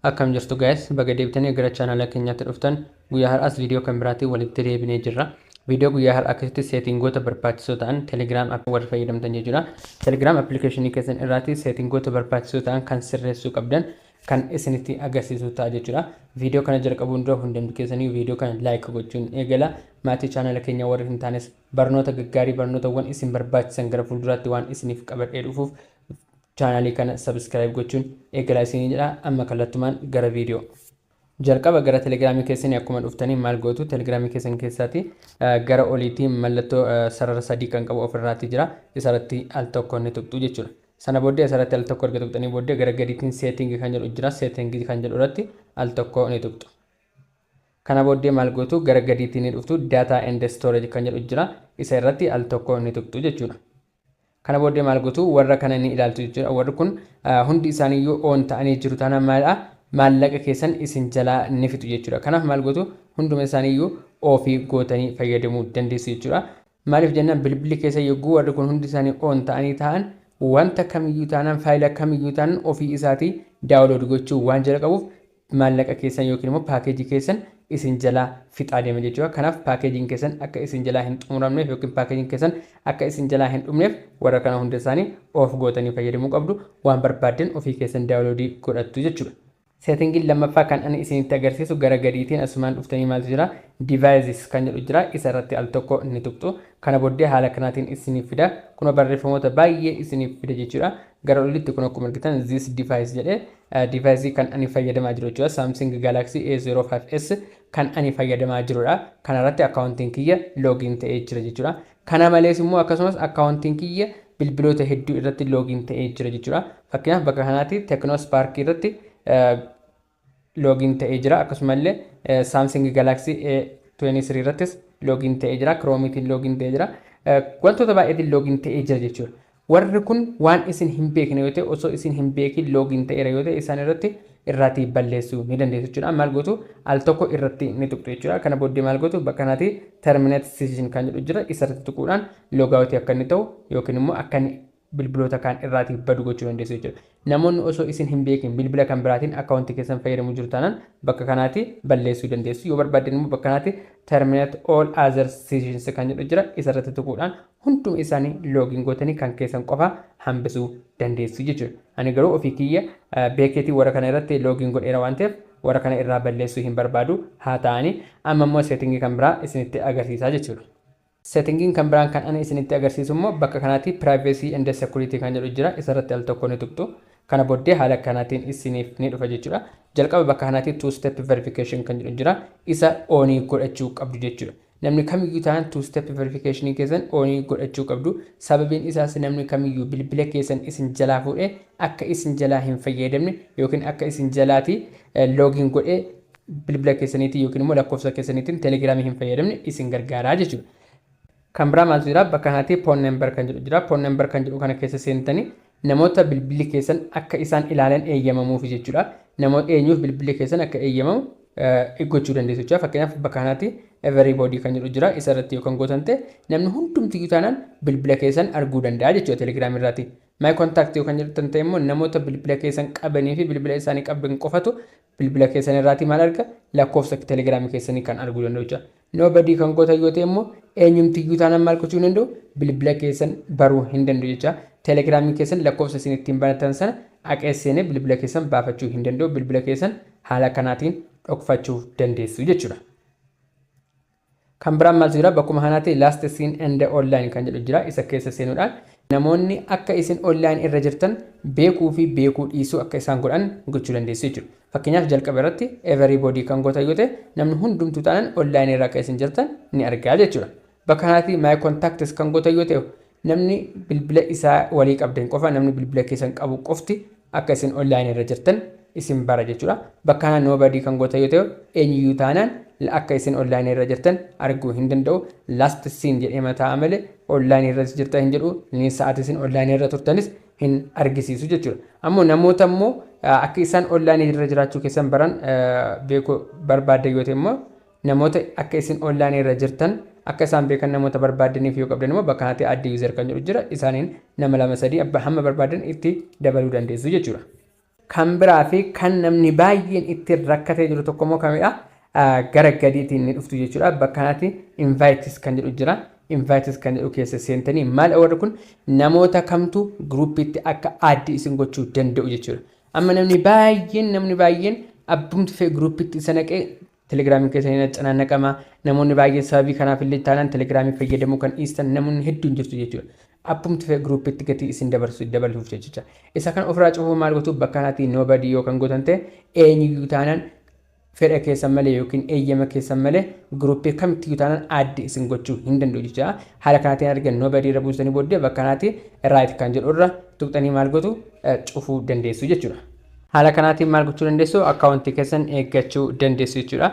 Akkam jirtu guys baga deebitanii gara chaanala keenyaatti dhuftan guyyaa har'aas viidiyoo kan biraatiin walitti deebinee jirra viidiyoo guyyaa har'aa keessatti seetingoota barbaachisoo ta'an telegiraam akka warri fayyadamtan jechuudha telegiraam appilikeeshinii keessan irraatti seetingoota barbaachisoo ta'an kan sirreessuu qabdan kan isinitti agarsiisu ta'a jechuudha viidiyoo kana jalqabuun dura hundumti keessanii viidiyoo kana laayik gochuun eegala maatii chaanala keenya warri hin taanes barnoota gaggaarii barnootawwan isin barbaachisan gara fuulduraatti waan isiniif qabadhee dhufuuf Channel kana subscribe gochuun eegalaa isinii jedha amma kallattumaan gara video. Jalqaba gara telegiraamii keessanii akkuma dhuftanii maal gootu telegiraamii keessan keessaati gara oliitii mallattoo sarara sadii kan qabu ofirraati jira isarratti al tokko ni tuqxu jechuudha. Sana booddee isarratti al tokko erga tuqxanii booddee gara gadiitiin seetingi kan jedhu jira seetingi kan jedhu irratti al tokko ni tuqxu. Kana booddee maal gootu gara gadiitiin ni dhuftu data and storage kan jedhu jira isa irratti al tokko ni tuqxu jechuudha. Kana booddee maal gotu? Warra kana ni ilaaltu jechuudha. Warri kun hundi isaaniiyyuu oon ta'anii jiru taanaan maalidha? Maallaqa keessan isin jalaa ni fixu jechuudha. Kanaaf maal gotu? Hunduma isaaniiyyuu oofii gootanii fayyadamuu dandeessu jechuudha. Maaliif jennaan bilbilli keessa yogguu warri kun hundi isaanii oon ta'anii taa'an wanta kamiyyuu taanaan faayila kamiyyuu taanaan ofii isaatii daawulood gochuu waan jalqabuuf maallaqa keessan yookiin immoo paakeejii keessan isin jalaa fixaa deema jechuudha. Kanaaf paakeejiin keessan akka isin jalaa hin xumuramneef yookiin paakeejiin keessan akka isin jalaa hin dhumneef warra kana hunda isaanii off gootanii fayyadamuu qabdu. Waan barbaaddan ofii keessan daawuloodii godhattu jechuudha. Seetingiin lammaffaa kan ani isinitti agarsiisu gara gadiitiin asumaan dhuftanii maaltu jira? Devices kan jedhu jira. Isa irratti al tokko ni tuqxu. Kana booddee haala kanaatiin isiniif fida. Kunoo barreeffamoota baay'ee isiniif fida jechuudha. Gara olitti kun akkuma argitan this device jedhe device kan ani fayyadamaa jiru jechuudha Samsung Galaxy A05s kan ani fayyadamaa jirudha kana irratti akkaawuntiin kiyya loogiin ta'ee jira jechuudha kana malees immoo akkasumas akkaawuntiin kiyya bilbiloota hedduu irratti loogiin ta'ee jira jechuudha fakkeenyaaf bakka kanaatti Tecno Spark irratti login ta'ee jira akkasuma illee Samsung Galaxy A23 irrattis login ta'ee jira Chrome tiin login ta'ee jira wantoota baay'eetiin login ta'ee jira jechuudha warri kun waan isin hin beekne yoo ta'e osoo isin hin beekin login ta'eera yoo ta'e isaan irratti irraatii balleessuu ni dandeessu jechuudha maal gootu al tokko irratti ni tuqxu jechuudha kana booddee maal gootu bakka kanatti terminate session kan jedhu jira isarratti tuquudhaan logaawutii akka inni ta'u yookiin immoo akka inni bilbiloota kaan irraati badu gochuu dandeessu jechuudha. Namoonni osoo isin hin beekin bilbila kan biraatiin account keessan fayyadamu jiru taanaan bakka kanaati balleessuu dandeessu. Yoo barbaaddan immoo bakka kanaati terminate all other sessions kan jedhu jira isa irratti tuquudhaan hunduma isaanii login gootanii kan keessan qofa hambisuu dandeessu jechuudha. Ani garuu ofii kiyya beekeetii warra kana irratti login godheera waan ta'eef warra kana irraa balleessuu hin barbaadu haa ta'ani amma immoo setting kan biraa isinitti agarsiisaa jechuudha. Setting kan biraan kan ani isinitti agarsiisu immoo bakka kanaatii privacy and security kan jedhu jira isa irratti al tokko ni tuqxu kana boddee haala kanaatiin isiniif ni dhufa jechuudha jalqaba bakka kanaatii two step verification kan jedhu jira isa oonii godhachuu qabdu jechuudha namni kamiyyuu ta'an two step verification keessan oonii godhachuu qabdu sababiin isaas namni kamiyyuu bilbila keessan isin jalaa fuudhee akka isin jalaa hin fayyadamne yookiin akka isin jalaatii loogiin godhee bilbila keessaniitiin yookiin immoo lakkoofsa keessaniitiin telegiraamii hin fayyadamne isin gargaaraa jechuudha. Kan biraa maaltu jira? Bakka kanatti phone number kan jedhu jira. Phone number kan jedhu kana keessa seentanii namoota bilbilli keessan akka isaan ilaalan eeyyamamuuf jechuudha. Namoota eenyuuf bilbilli keessan akka eeyyamamu gochuu dandeessu jechuudha. Fakkeenyaaf bakka kanatti everybody kan jedhu jira. Isa irratti yoo kan gootan ta'e namni hundumtiyyuu taanaan bilbila keessan arguu danda'a jechuudha telegiraamii irratti. My contact yoo kan jedhu ta'e immoo namoota bilbila keessan qabanii fi bilbila isaanii qaban qofatu Bilbila keessan irraati maal arga? Lakkoofsa Telegram keessanii kan arguu danda'u jechuudha. Nobody kan gootan yoo ta'e immoo eenyumtiyyuu taanaan maal gochuu hin danda'u? Bilbila keessan baruu hin danda'u jecha. Telegram keessan lakkoofsa isin ittiin banatan sana aqee seenee bilbila keessan baafachuu hin danda'u. Bilbila keessan haala kanaatiin dhokfachuuf dandeessu jechuudha. Kan biraan maaltu jira? Bakkuma kanaatti last seen and online kan jedhu jira. Isa keessa seenuudhaan namoonni akka isin online irra jirtan beekuu fi beekuu dhiisuu akka isaan godhan gochuu dandeessu jechuudha. Fakkeenyaaf jalqaba irratti everybody kan gootan yoo ta'e namni hundumtuu taanaan online irra akka isin jirtan ni argaa jechuudha. Bakka kanaatti my contacts kan gootan yoo ta'e Namni bilbila isaa walii qabdan qofa, namni bilbila keessan qabu qofti akka isin online irra jirtan isin bara jechuudha. Bakka kanaa nobody kan gootan yoo ta'e eenyuyyuu taanaan akka isin online irra jirtan arguu hin danda'u. Last seen jedhee mataa malee online irras jirta hin jedhu, ni sa'aati isin online irra turtanis hin argisiisu jechuudha. Ammoo namoota immoo akka isaan online irra jiraachuu keessan baran beekuu barbaaddan yoo ta'e immoo Namoota akka isin online irra jirtan akka isaan beekan namoota barbaaddaniif yoo qabdan immoo bakka kanatti add user kan jedhu jira isaaniin nama lama sadii abba hamma barbaaddan itti dabaluu dandeessu jechuudha. Kan biraa fi kan namni baay'een itti rakkatee jiru tokko immoo kamidha? Gara gadiitiin ni dhuftu jechuudha. Bakka kanatti invites kan jedhu jira. Invites kan jedhu keessa seentanii maal warri kun namoota kamtu groupitti akka add isin gochuu danda'u jechuudha. Amma namni baay'een namni baay'een abbumti fee groupitti isa naqee Telegram keessan hin acanaannaqama. Namoonni baay'een sababii kanaaf illee taanaan Telegram fayyadamuu kan dhiistan namoonni hedduun jirtu jechuudha. Appumti fe'e groupitti gatii isin dabarsu dabaluuf jechicha. Isa kana ofirraa cufuuf maal gootu bakka kanatti nobody yoo kan gootan ta'e eenyuyyuu taanaan fedha keessan malee yookiin eeyyama keessan malee gruupii kamittiyyuu taanaan addi isin gochuu hin danda'u jecha haala kanaatiin erga nobody irra buustanii booddee bakka kanaatti right kan jedhu irra tuqxanii maal gootu cufuu dandeessu jechuudha. Haala kanaatiin maal gochuu dandeessu? Akkaawuntii keessan eeggachuu dandeessu jechuudha.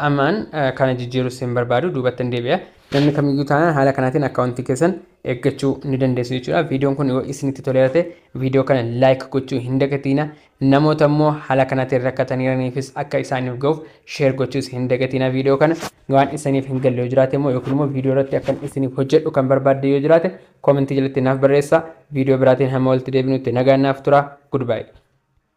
Ammaan kana jijjiirus hin barbaadu duubatti hin deebi'a. Namni kamiyyuu taanaan haala kanaatiin akkaawuntii keessan eeggachuu ni dandeessu jechuudha. Viidiyoon kun yoo isinitti toleera ta'e viidiyoo kana laayik gochuu hin dagatiina. Namoota immoo haala kanaatiin rakkataniiraniifis akka isaaniif ga'uuf sheer gochuus hin dagatiina viidiyoo kana. Waan isiniif hin galle yoo jiraate immoo yookiin immoo viidiyoo irratti akkan isiniif hojjedhu kan barbaadde yoo jiraate Comment jalatti naaf barreessaa. Video biraatiin hamma walitti deebinutti nagaan naaf turaa. Goodbye.